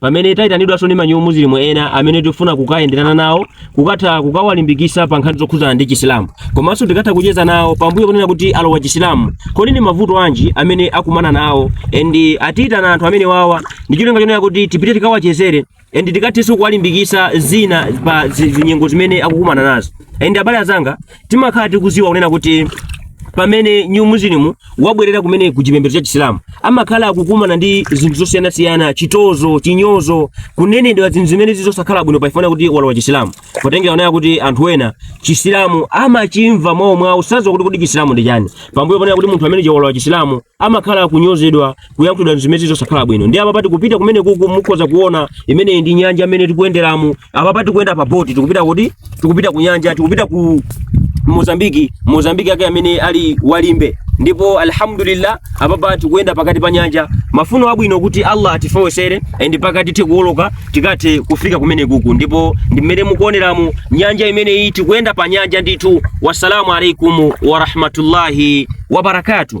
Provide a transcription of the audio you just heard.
pamene tayitanidwanso ndi ma new muslim ena amene tikufuna kukayenderana nawo kukatha kukawalimbikisa pa nkhani zokhudzana ndi chisilamu komanso tikatha kucheza nawo pambuyo kunena kuti alowa chisilamu kodi ndi mavuto anji amene akumana nawo and atiyitana anthu amene wawa ndi cholinga chonena kuti tipite tikawachezere and tikathenso kuwalimbikisa zina pa zi- zinyengo zimene akukumana nazo and abale azanga timakhala tikuziwa kunena kuti pamene new muslim wabwerera kumene ku chipembedzo cha chisilamu amakhala akukumana ndi zinthu zosiyanasiyana chitozo chinyozo kunenedwa zinthu zimene zizosakhala bwino pachifukwa kuti walowa chisilamu potengera poona kuti anthu ena chisilamu amachimva mwawo mwawo sadziwa kuti kuti chisilamu ndi chani pambuyo ponena kuti munthu amene walowa chisilamu amakhala akunyozedwa kuyankhulidwa zimene zizosakhala bwino ndiye apapa tikupita kumene kuku mukhoza kuona imene ndi nyanja imene tikuyenderamo apapa tikuyenda pa boti tikupita kuti tikupita ku nyanja tikupita ku Mozambiki Mozambiki yake amene ali wa Limbe ndipo alhamdulillah apapa tikuyenda pakati pa nyanja mafuno abwino kuti Allah atifewesere and pakuti tikuoloka tikathe kufika kumene kuku ndipo ndi mmene mukuoneramu nyanja imene iyi tikuyenda pa nyanja ndithu wassalamu alaikum wa rahmatullahi wa barakatuh